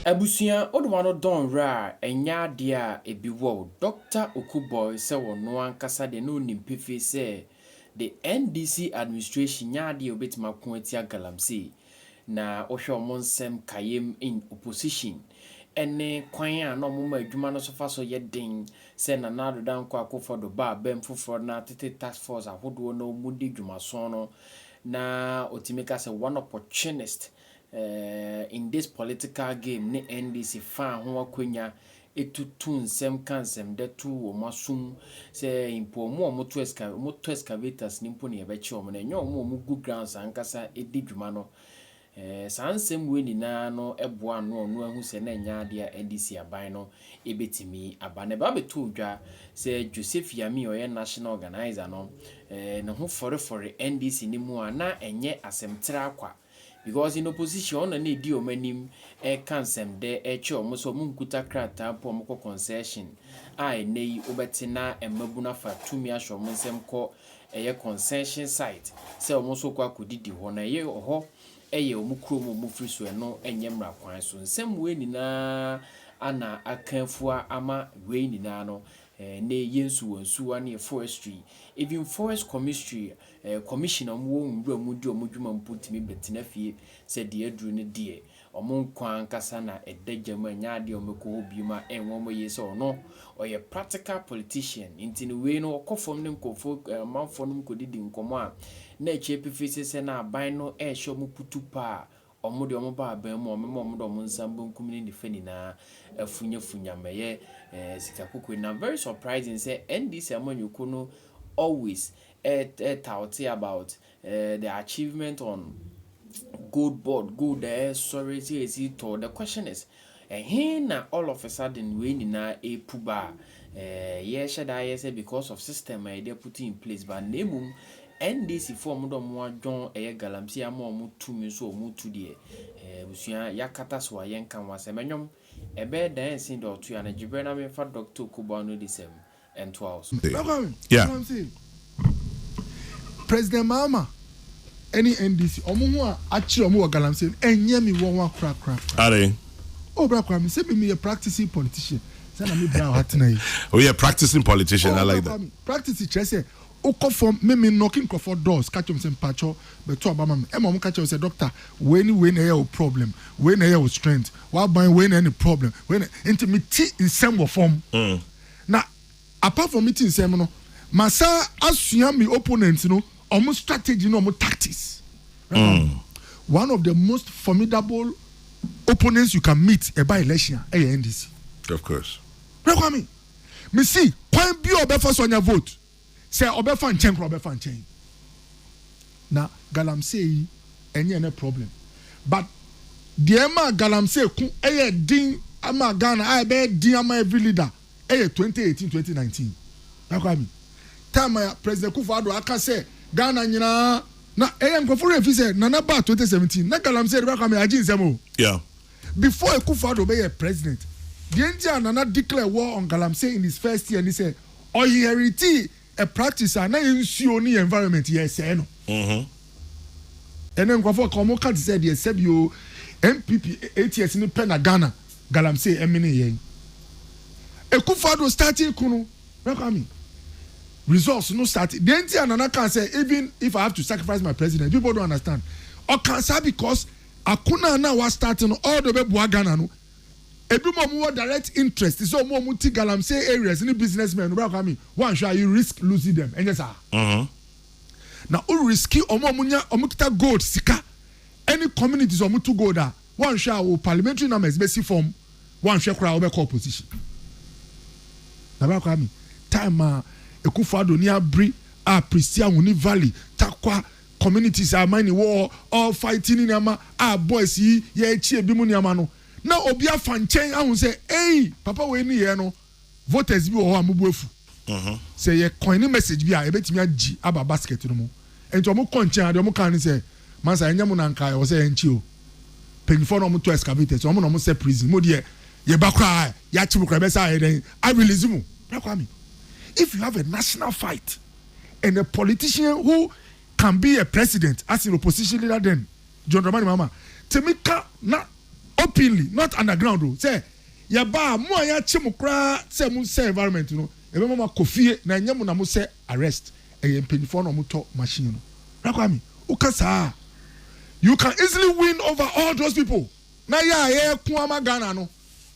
Abusua onuwa no dɔ nwura a ɛnyɛ adeɛ a ɛbi wow Dɔkta Okuboi sɛ ɔno ankasa deɛ na ɔnim pefee sɛ the NDC administration nyɛ adeɛ a ɔbɛtumi ako atia galamsey Na wohwɛ wɔn nsɛm kayem in opposition ɛne kwan a na wɔma adwuma no so fa so yɛ den sɛ Nana Addo Dankwa Akufo-Addo ba abam foforɔ na tete task force ahodoɔ na wɔn di dwumaso no na otumi ka sɛ one opportunist eh, in this political game ne NDC faa ho akwanya tu to nsɛm ka nsɛmdɛ to wɔn aso mu sɛ mpo wɔn a wɔto esca wɔtɔ excavators no mpo na yɛbɛkye wɔn no ɛnyɛ wɔn a wɔgu grounds ankasa di dwuma no eh, saa nsɛm wei nyinaa no boa no ɔno ahu sɛ na ɛnyɛ adeɛ a NDC aban no ɛbɛtumi aba na ɛba bɛtoo dwa sɛ Joseph Yami ɔyɛ national organizer no eh, ne ho fɔrefɔre NDC no mu a na ɛnyɛ asɛm traa kwa Because in opposition ɔno na na edi wɔn anim reka nsɛmdɛ rekyerɛ wɔn sɛ wɔn nkuta krataa mpo a wɔkɔ concession a ɛnnɛ yi wobɛte na mmabunu afa tumi ahyɛ wɔn nsam kɔ ɛyɛ concession site sɛ wɔn nso rekɔ akɔdidi hɔ na ɛyɛ ɛhɔ yɛ wɔn kurom a wɔfiri so ɛno nyɛ mmara kwan so nsɛm wei nyinaa na aka afua ama wei nyinaa no ɛnnɛ yi yɛn nsuwa nsuwa ne forestry even forest commistry Ɛyɛ commission a wɔwɔ nwura mu di wɔn dwuma mpo tumi bɛtena fie sɛ deɛ aduru no deɛ wɔn nkwa ankasa na ɛda gya mu ɛnyɛ adeɛ a wɔbɛkɔ hɔ bio ma ɛnwa wɔn yie sɛ ɔno ɔyɛ practical politician nti no wei no ɔkɔ fam ne nkorɔfoɔ amanfoɔ nom kɔdidi nkɔmmɔ a na akyire pefee sɛ sɛ na aban no rehyɛ wɔn kutu paa Wɔde wɔn ba abɛn mu a, wɔbɛma wɔn de wɔn nsa benkum ne nifa nyinaa afunyafunya ma ɛyɛ eh, sika koko. Na very surprising sɛ NDC amanyɔkuo no always ɛtaute about eh, the achievement on gold board, gold a ɛresɔre sɛ ɛsi tɔɔ. The question is, Ɛhe na all of a sudden wei nyinaa repu ba a? Ɛɛ, yɛhyɛ da yɛ sɛ because of system a yɛde aputu in place but na mmom NDC foɔ a wɔde wɔn adwon ɛyɛ galamsey ama wɔn tumi nso a wɔretu deɛ, ɛɛ, abusua, yɛakata so a yɛnka ho asɛm. Ɛnwom, ɛbɛyɛ dan a ɛsen deɛ ɔtoeɛ, anadwoberɛ na memfa Doctor Okubo Ano Adisɛm. ɛntoa wo so. Yeah. President Mahama ɛne NDC ɔmo ho a akyerɛ ɔmo wɔ galamsey no ɛnyɛ me wɔwa kora kora kora. Adɛn? Oh bra Kwame sɛ me meyɛ practicing politician sɛ na me bra wɔ atena yi. Oh yeah practicing politician oh, I like that. Kwame practice kyerɛ sɛ okɔ fam me me nnɔke nkurɔfoɔ doors ka kyerɛ ɔmo sɛ mpakyɛ bɛto aba ma me ɛma ɔmo ka kyerɛ sɛ doctor wei ne wei na ɛyɛ wo problem wei na ɛyɛ wo strength waban wei na ɛne problem wei na nti me ti nsɛm wɔ fam. Mm. Na apart from me ti nsɛm no ma san asua me opponent no ɔmo strategy ne ɔmo tactics. Remember one of the most formidable opponents you can meet ɛba election a ɛyɛ NDC. Of course. Brɛ Kwame me si kwan bi a ɔbɛfa so anya vote. Sɛ ɔbɛfa nkyɛn koraa ɔbɛfa nkyɛn. Na galamsey yi ɛnyɛ ne problem. But deɛ ɛma galamsey ko ɛyɛ den ama Ghana a ɛbɛyɛ den ama every leader ɛyɛ 2018 2019. Ɛkɔ ami. Time a President Kufuor Addo aka sɛ Ghana nyinaa na ɛyɛ nkurɔfo werɛ fi sɛ Nana baa 2017 na galamsey de bɛkɔ ami agye nsɛm o. Yeah. Before Akufo Addo bɛyɛ president, deɛ nti a Nana declare war on Galamsey in his first year ne sɛ, ɔinheritee a practice a na yɛn nsuo ne yɛn environment yɛresɛe no. Ɛnnɛ nkurɔfoɔ ka, wɔka te sɛ deɛ sɛbi oo, NPP eight years no pɛ na Ghana Galamsey menee yɛn. Akufo Addo startee ko no, na Kwame resource no startee. Deɛ nti a Nana kaa sɛ, even if I have to sacrifice my presidency, people don't understand. Ɔkaa saa because. ako no a na wa start no all the bɛ boa Ghana no ebi mo ɔmo wɔ direct interest sɛ ɔmo ɔmo ti galamsey areas ne business men no bra kwa mi wɔn ahwɛ a you risk losing them ɛnyɛ saa mm-hmm. na o riski ɔmo ɔmo nya ɔmo kita gold sika ɛne communities ɔmo to gold a wɔn ahwɛ a o parliamentary numbers bɛ si fam wɔn ahwɛ koraa ɔbɛ kɔ opposition na bra kwa mi time a ekufu ado ni abiri a prisia wuni valley takwa. communities a mine wɔ hɔ all fighting ne nneɛma a boys yi yɛrekyi ebinom nneɛma no na obi afa nkyɛn ahu sɛ ei papa wei ne yɛn no voters bi wɔ hɔ a mo bo afu sɛ yɛ coin ne message bi a ebetumi agye aba basket no mu nti wɔn kɔ nkyɛn adeɛ wɔn kan ne sɛ mansa yɛnyɛ mo na nka ɛwɔ sɛ yɛn kyi o mpanyinfoɔ na wɔn tɔ excavators wɔn na wɔn sɛ prison mo deɛ yɛ ba koraa yɛakyi mo koraa ɛbɛsa ayɛ dɛn a release mo bra kwa mi if you have a national fight. and a politician who can be a president as an opposition leader then John Dramani Mahama tumi ka na openly not underground o sɛ yɛba a mo a yɛakye mo koraa sɛ mo nsɛ environment no yɛbɛma mo akɔ fie na ɛnyɛ mo na mo sɛ arrest ɛyɛ mpanyinfoɔ na wɔtɔ machine no Rakwame woka saa a you can easily win over all those people na yɛ a yɛko ama Ghana no.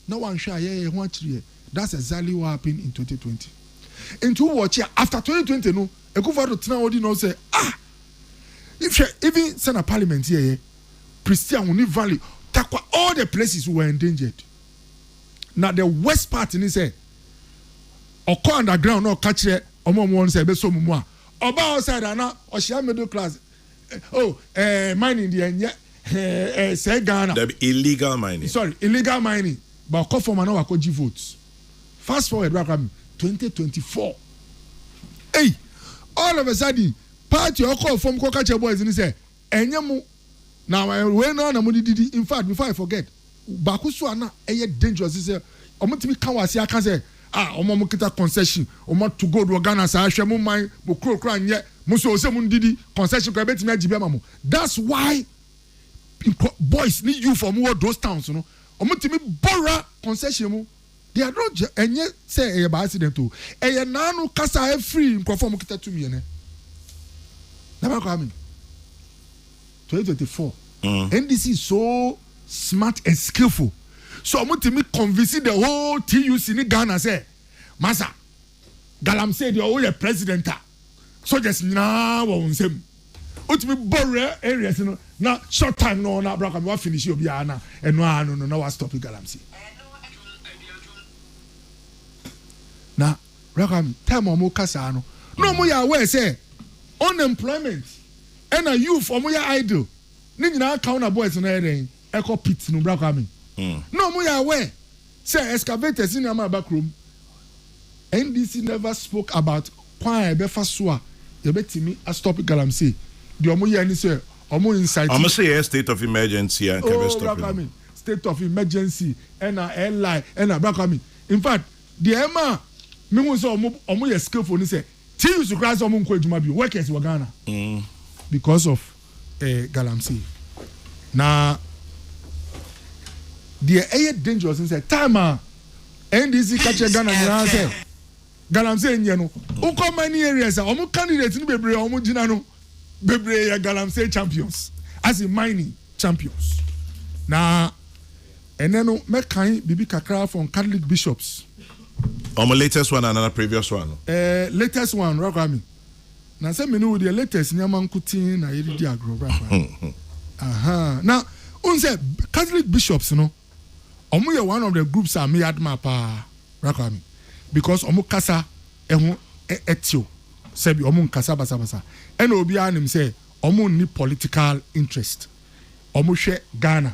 Na wanhwɛ a yɛyɛ ho akyiriɛ that's exactly what happened in twenty twenty nti wo watch a after twenty twenty no Akuffo Addo tena hɔ di na ɔsɛ ah hwɛ even sɛ na parliament yɛyɛ Prestea ho ne valley Tarkwa all the places we were endangered na the worst part ne sɛ ɔkɔ underground na ɔka kyerɛ ɔmo ɔmo wɔn sɛ ɛbɛsɔ ɔmo mu a ɔbaa outside a na ɔhyia middle class Oh eh, mining deɛ nyɛ eh, eh, sɛ Ghana. Dabi, illegal mining. Sorry, illegal mining. Ba ɔkɔ fam a na wakɔ gye vote. Fast forward bra kora mi 2024. Ei, all of a sudden, party ɔkɔɔ fam kɔka kyerɛ boys no sɛ, ɛnyɛ mo, na wei no ara na mo de didi, in fact before I forget, Baako so a na ɛyɛ dangerous ne sɛ wɔn tumi ka wɔ ase aka sɛ ah wɔn a wɔn kita concession wɔn ato gold wɔ Ghana saa hwɛ mo man mo kuro kura nyɛ mo nso ɔsɛ mo ndidi concession kora ebetumi agye bi ama mo that's why boys ne youth wɔn wɔ those towns no wɔn tumi bɔ wura concession mu. Deɛ ɛno gyɛ ɛnyɛ sɛ ɛyɛ by accident o, ɛyɛ naa no kasa a ɛfiri nkorɔfoɔ a wɔn kita tumi ɛnɛ. Nana Kwame, 2024, NDC is so smart and skillful sɛ wɔn tumi convince the whole TUC ne Ghana sɛ, Masa, Galamsey deɛ ɔyɛ president a. soldiers nyinaa wɔ wɔn nsam wotumi bɔ rural areas no na short time no na abira kwame wa finish obiara na ɛno ara no no na wa stop galamsey na abira kwame time a wɔn kasa no na wɔn yɛ aware sɛ unemployment ɛna youth wɔn yɛ idle ne nyinaa kan na boys no yɛ dɛn. ɛkɔ pit no bra kwame na ɔmo yɛ aware sɛ excavators ne nneɛma ɛba kurom ndc never spoke about kwan a ɛbɛfa so a yɛbɛtumi astop galamsey deɛ ɔmo yɛ ne sɛ ɔmo incite ɔmo sɛ yɛ state of emergency a nka ɛbɛstop bra kwame state of emergency ɛna ɛlai ɛna bra kwame in fact deɛ ɛma mehu sɛ ɔmo ɔmo yɛ skillful ne sɛ. Teams koraa sɛ wɔn nkɔ adwuma bio workers wɔ Ghana because of eh, galamsey na deɛ ɛyɛ dangerous n sɛ time a NDC ka kyerɛ Ghana nyinaa sɛ galamsey nyɛ no wokɔ mining areas a wɔn candidate no bebree a wɔn gyina no bebree yɛ galamsey champions as in mining champions na Ɛnnɛ no mɛkan biribi kakra from Catholic bishops. Wɔn latest one anaa previous one no? Ɛɛ latest one Owura Kwame. Na sɛ me ne wo deɛ latest nneɛma nkotee na yɛde di agorɔ Owura Kwame. Ahaa na wohu sɛ Catholic bishops no wɔn yɛ one of the groups a me admire paa Owura Kwame because wɔn kasa ho tew sɛ bi wɔn nkasa basabasa ɛna obiara nim sɛ wɔn nni political interest wɔn hwɛ Ghana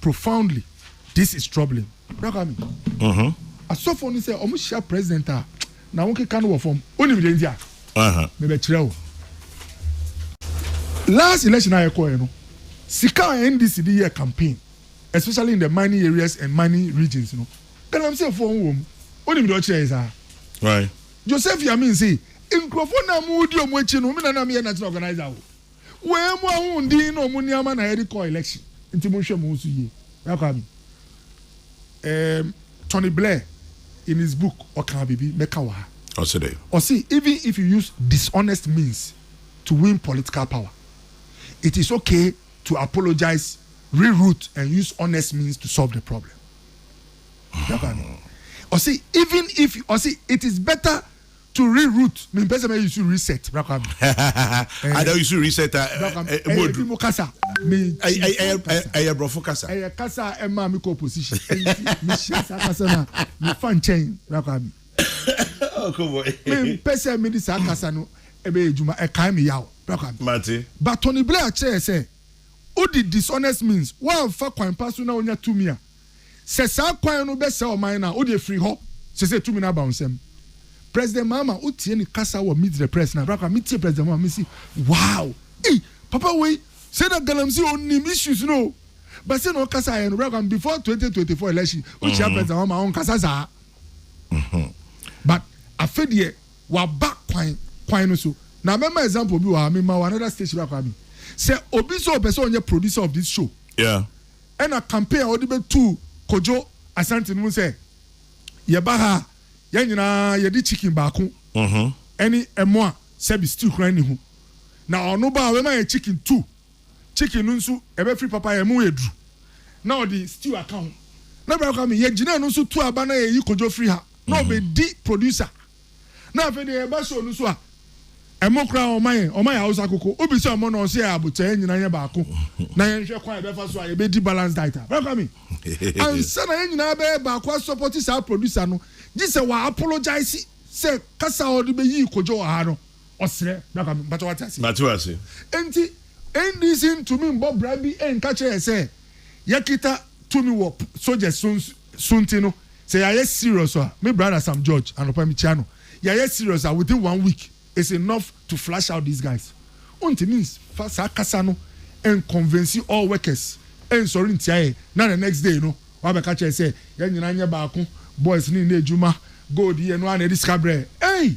profoundly this is troubling. Bra Kwame. Mhm. Asɔfo no sɛ ɔmo hyia president a na wɔn keka no wɔ fam. Onim deɛ nti a? Aha. Mebɛkyerɛ wo. Last election a yɛkɔɛ no, sika a NDC de yɛɛ campaign especially in the mining areas and mining regions no, galamsey foɔ ho wɔ mu. Onim deɛ ɔkyerɛɛ saa? Why? Joseph Yamin se nkurɔfoɔ no a mo di ɔmo akyi no, me na na meyɛ national organizer o. Wei mu ahoɔden ne wɔn nneɛma na yɛde kɔ election nti monhwɛ mo ho so yie. Bra Kwame, um, Tony Blair in his book ɔkaa biribi mɛka wɔ ha. Ɔse dɛn? Ɔse even if you use dishonest means to win political power, it is okay to apologise, re-route and use honest means to solve the problem. Bra Kwame, ɔse even if, ɔse it is better to re root mi mpɛ sɛ mɛ yi su reset bra kwa mi. ɛɛ ada yi su reset a bra kwa mi ɛyɛ bi mu kasa mi ti ɛyɛ kasa ɛyɛ brɔfo kasa ɛyɛ kasa a ɛma mi kɔ opposition ɛnti mi hyɛ saa kasa na mi fa nkyɛn bra kwa mi mi mpɛ sɛ mi di saa kasa no ɛbɛ yɛ adwuma ɛkae mi yaw bra kwa mi ba Tony Blair kyerɛ yɛ sɛ o di dishonest means wa nfa kwan pa so na o nya tumi a Sɛ saa kwan no bɛsɛe ɔman no a, wodeɛ firi hɔ. Sesei tumi no aba wo nsam. President Mahama wotie ne kasa wɔ Meet the Press no a, berɛ a koraa metie President Mahama mese wow! Ei! Papa wei sɛ na Galamsey ɔnim issues no o! But sɛ na ɔkasaeɛ no, berɛ a koraa before 2024 election, wokyia President Mahama a ɔnkasa saa. But afe deɛ waba kwan kwan no so. Na mɛma example bi wɔ ha, mema wɔ another station berɛ a koraa me sɛ obi sɛ ɔpɛ sɛ ɔnyɛ producer of this show, Yeah. na campaign a wɔde bɛtuu Kojo Asante no mu sɛ, Yɛba ha a, yɛn nyinaa yɛde chicken baako ne ɛmo a sɛbi stew koraa nni ho. Na ɔno ba a, ɔbɛma yɛn chicken two. Chicken no nso, ɛbɛfiri papa, ɛmo yɛ duru, na ɔde stew aka ho. Na Bra Kwame, yɛgyinaa no nso tuu aba na yɛyi Kojo firi ha, na ɔbɛdi producer. na afei deɛ yɛba show no so a ɛmo koraa ɔma yɛn ɔma yɛ hausa koko obi sɛ ɔmo na ɔsɛ yɛ abotɛ yɛn nyinaa yɛ baako na yɛn hwɛ kwan ɛbɛfa so a yɛbɛdi balance diet a bɛkwa mi ansa na yɛn nyinaa bɛyɛ baako asɔpɔti saa producer no gye sɛ wɔ apologize sɛ kasa a ɔde bɛyi kodwo wɔ ha no ɔsrɛ bɛkwa mi mpatɔ wate ase mate ase nti ndc ntumi mbɔ bra bi nka kyerɛ yɛ sɛ yɛkita tumi wɔ soldiers so So nti no sɛ yɛayɛ serious a me brother Sam George anɔpa mekyia no yɛayɛ serious a within one week is enough to flush out these guys Wontimi nfa saa kasa no nconvince all workers nsɔre ntia yɛn na the next day no woabɛka kyerɛ yɛn sɛ yɛn nyinaa nyɛ baako boys no nni adwuma Gold yi ɛno ara na ɛde sika brɛ yɛn ei!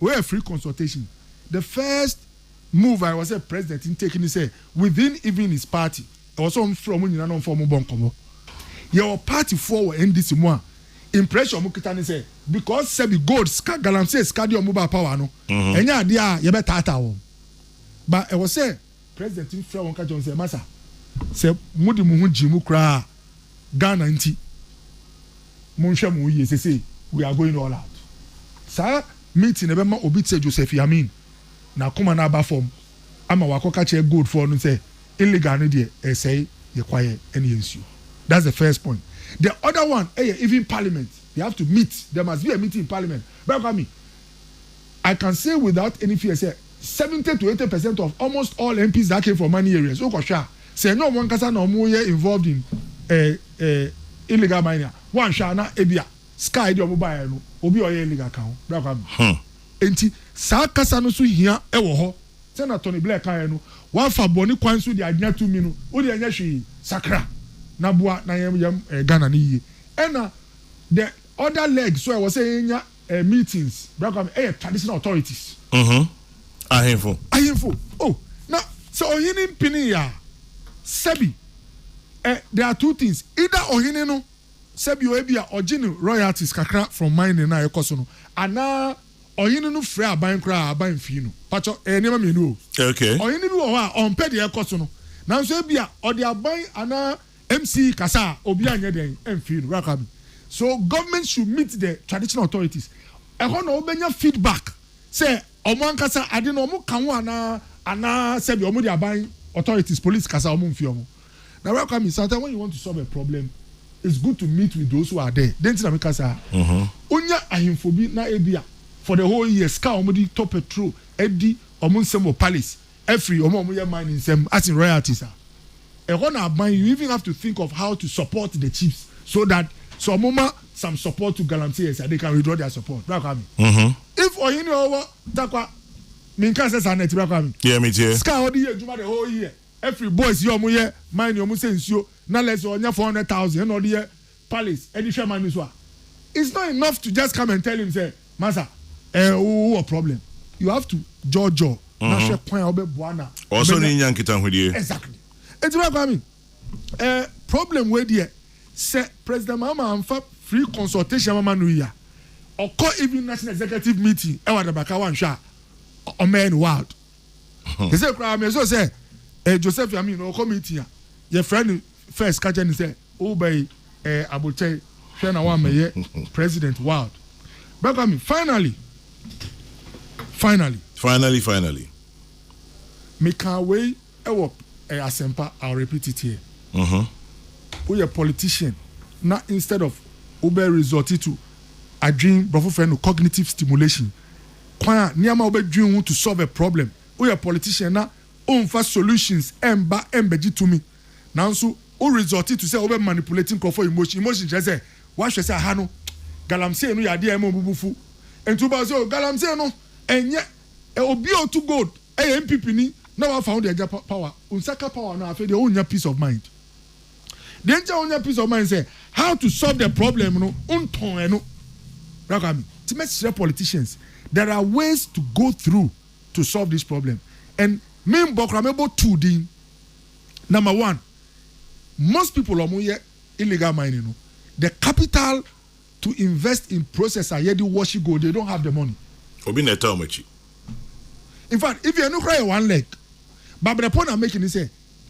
Wei yɛ free consultation. The first move a ɛwɔ sɛ president no take ne sɛ within even his party, ɛwɔ sɛ ɔfrɛ wɔn nyinaa na ɔfa wɔn bɔ nkɔmmɔ. Yɛwɔ party foɔ wɔ NDC mu a impression a wɔkita ne sɛ because sɛbi gold, sika, galamsey sika de wɔn baa power no, ɛnyɛ adeɛ a yɛbɛtaataa wɔn. But ɛwɔ sɛ President no frɛɛ wɔn ka kyerɛɛ wɔn sɛ, Masa, sɛ mode mo ho gye mu koraa a, Ghana nti, monhwɛ mo ho yie sesei, we are going all out. Saa meeting no bɛma obi te sɛ Joseph Yamin n'akoma no aba fam ama wakɔka kyerɛ Goldfoɔ no sɛ illegal no deɛ ɛresɛe yɛn kwaeɛ ne yɛn nsuo. That's the first point. The other one yɛ even parliament, they have to meet, there must be a meeting in parliament. Bra Kwame. I can say without any fear sɛ seventy to eighty percent of almost all MPs that came from mining areas wokɔ hwɛ a sɛ ɛnyɛ ɔmo ankasa na ɔmo yɛ involved in eh eh illegal mining a woanhwɛ a na ebia sika a ɛde ɔmo baeɛ no obi a ɔyɛ illegal ka ho Bra Kwame. Hmm. Enti saa kasa no so hia wɔ hɔ. Sɛnea Tony Blair kaeɛ no, Woafa bɔne kwan so de anya tumi no, wo deɛ nyɛ hwee. Sakra na boa na yɛn yɛn eh Ghana no yie. Ɛna the other leg so a ɛwɔ sɛ yɛnya eh, meetings, Bra Kwame, eh, yɛ traditional authorities. Mhm. Ahemfo. Ahemfo. Oh, na sɛ ɔhene mpenee a, sɛbi, eh, there are two things, either ɔhene no, sɛbi o, ebia ɔgye ne royalties kakra from mining a ɛkɔ so no, anaa ɔhene no frɛ aban koraa a aban mfii no. Pakyɛ, ɛyɛ nneɛma mmienu o. Okay. Ɔhene bi wɔ hɔ a, ɔmpɛ deɛ ɛkɔ so no, nanso ebia ɔde aban anaa MC kasa a obi anyɛ dɛn ɛnfii no raka bi so government should meet the traditional authorities ɛhɔ na wɔbɛnya feedback sɛ wɔn ankasa ade no wɔn ka ho anaa anaa sɛbi wɔn de aban authorities police kasa wɔn nfi wɔn na raka mi sometimes when you want to solve a problem it's good to meet with those who are there denti na mi kasa onya ahemfo bi na ebi a for the whole year sika wɔn de tɔ petrol ɛdi wɔn nsɛm wɔ palace. afiri wɔn a wɔn yɛ mine nsam as in royalties a ɛhɔ na aban you even have to think of how to support the chiefs so that sɛ wɔn ma some support to galamseyers a they can withdraw their support bra kwame mm-hmm. if ɔhene a ɔwɔ takwa mi nka sɛ saa na ɛte bra kwame yeah, me tie. sika a ɔde yɛ adwuma the whole year afiri boys yɛ wɔn yɛ mine wɔn sɛ nsuo na lɛsɛ ɔnya four hundred thousand ɛna ɔde yɛ palace ɛde hwɛ man bi so a it's not enough to just come and tell him sɛ masa eh wo wɔ problem you have to jɔjɔ na hwɛ kwan a wobɛ boa na ɔsɔ ne nya nkitahodie exactly eti bra kwame eh problem wei deɛ sɛ president mahama anfa free consultation mama no yi a ɔkɔ even national executive meeting ɛwɔ adabaka wanhwɛ a ɔmɛyɛ no wild ɛsɛ kura mɛ so sɛ eh joseph yamin ɔkɔ meeting a yɛ frɛ no first kakyɛ ne sɛ. Woba yi ɛɛ abokyɛe hwɛ na woammɛyɛ president wild bɛkwa me finally finally. Finally finally. Mekaa wei wɔ ɛɛ asɛmpa I'll repeat it here woyɛ politician na instead of wobɛ resort to adwen brɔfo frɛ no cognitive stimulation kwan a nneɛma a wobɛdwen ho to solve a problem woyɛ politician na womfa solutions ɛmba ɛmbɛgye tumi Nanso wo resort to sɛ wobɛ manipulate nkurɔfoɔ emotion. Emotion kyerɛ sɛ woahwɛ sɛ aha no galamsey no yɛ adeɛ a ɛma wɔn bo bu fu. Nti wo ba sɛ oh galamsey no ɛnyɛ obi a ɔtu gold ɛyɛ NPP ni na wafa wo de agya power. Wo nsa ka power no a afei deɛ wonnya peace of mind. Deɛ nti a wonnya peace of mind sɛ how to solve the problem no wontɔn ɛno. Bra Kwame. Nti mɛsrɛ politicians there are ways to go through to solve this problem and menbɔ koraa mɛbɔ two din. Number one, most people a wɔyɛ illegal mining no, the capital to invest in process a yɛde wɔhye gold, they don't have the money. Obi na ɛta wɔn akyi. In fact, if ɛno koraa yɛ one leg, but the point I'm making ni sɛ,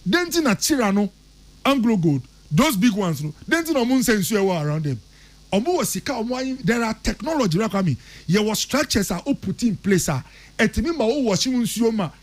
den ti na Kira no, Anglo Gold, those big ones no, den ti na wɔn nsɛ nsuo ɛwɔ around them. Wɔn wɔ sika, wɔn ayi, there are technology, right Kwame? Yɛwɔ structures a o put in place a, ɛtumi ma o wɔhye nsuo ma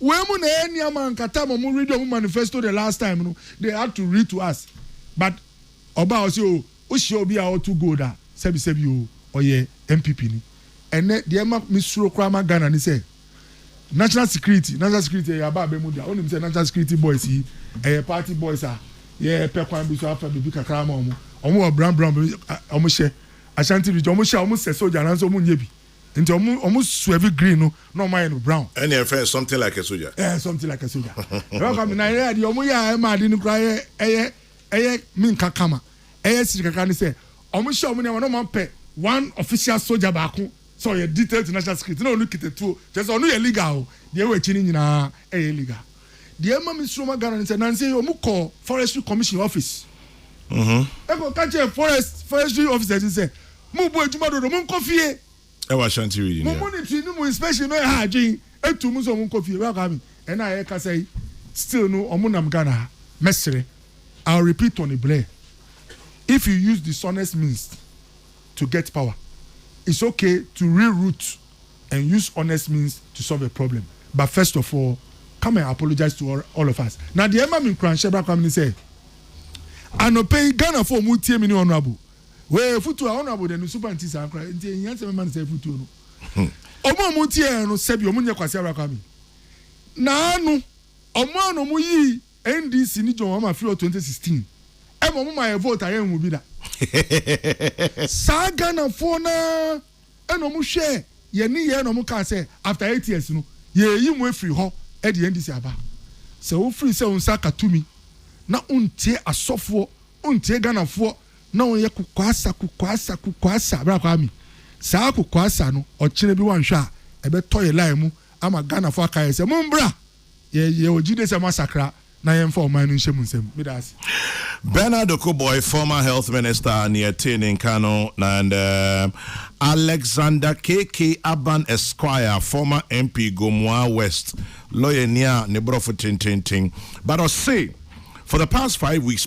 Wei mu na ɛyɛ nneɛma a nka time ɔmo read ɔmo manifesto the last time no they had to read to us but ɔbaa ɔsi o wohyia obi a ɔto gold a sɛbi sɛbi o ɔyɛ NPP ni ɛnɛ deɛ ɛma me suro koraa ma Ghana ni sɛ national security national security ɛyɛ aba abɛ mu deɛ onim sɛ national security boys yi ɛyɛ party boys a yɛ pɛ kwan bi so afa bibi kakra ama ɔmo ɔmo wɔ brown brown ɔmo hyɛ Ashanti region ɔmo hyɛ ɔmo sɛ soldier nanso ɔmo nyɛ bi. Nti ɔmo ɔmo swevi green no na ɔmo ayɛ no brown. Ɛna yɛ fɛn something like a soldier. Ɛɛ something like a soldier. Ɛbɛ kɔ na yɛ deɛ ɔmo yɛ a ɛma ade no kura yɛ ɛyɛ ɛyɛ mi nka kama ɛyɛ siri kakra ne sɛ ɔmo hyɛ ɔmo nneɛma na ɔmo apɛ one official soldier baako sɛ ɔyɛ detail to national security na ɔno kita tuo kyerɛ sɛ ɔno yɛ legal o deɛ ɛwɔ akyi no nyinaa ɛyɛ legal. Deɛ ɛma me suro ma Ghana ne sɛ nansa yi wɔn kɔɔ Forestry Commission office ɛkɔ ka kyerɛ forest forestry officers ne sɛ mo bɔ adwuma dodo mo nkɔ fie. Ɛwɔ Ashanti region yɛ. Mo monetary ne mo inspection no ɛha adwene etu mo sɛ wɔn nkɔ fie. Bra Kwame ɛna a yɛkasa yi still no wɔn nam Ghana ha mɛsrɛ I'll repeat Tony Blair if you use dishonest means to get power it's okay to reroute. and use honest means to solve a problem but first of all come and apologize to all, all of us na deɛ ɛma me nkuranhyɛ bra koraa ne sɛ anɔpɛ yi ghanafoɔ ɔmo tie me ne honorable wei futuo a honorable deɛ ne nso pa nti saa koraa nti ehia sɛ mema ne sɛ futuo no ɔmo ɔmo tie yɛn no sɛbi ɔmo nyɛ kwasi abra koraa me naa no ɔmo a na ɔmo yi ndc ne john ama fi wɔ 2016 ɛma ɔmo ma yɛ vote a yɛn ho bi da saa ghanafoɔ naa. Ɛna wɔn hwɛɛ yɛn nneyɛɛ na wɔn kaa sɛ, After eight years no, yɛɛyi mo afiri hɔ de yɛn NDC aba. Sɛ wo firi sɛ wo nsa aka tumi na wo ntie asɔfoɔ, wo ntie Ghanafoɔ na wo yɛ kokoasa, kokoasa, kokoasa, Bra Kwame, saa kokoasa no ɔkyena bi wo anhwɛ a ɛbɛtɔ yɛ line mu ama Ghanafoɔ aka yɛn sɛ, Mombra! Yɛwɔ gyidie sɛ moasakra na yɛmfa ɔman no nhyɛ mo nsam. Medaase. Bernard Dokuboy, former health minister, nea ɛtee ne nka no, and um, Alexander KK Aban Esquire, former MP, Gomoaa West, lɔyani a ne borɔfo tententen. But ɔse, for the past five weeks,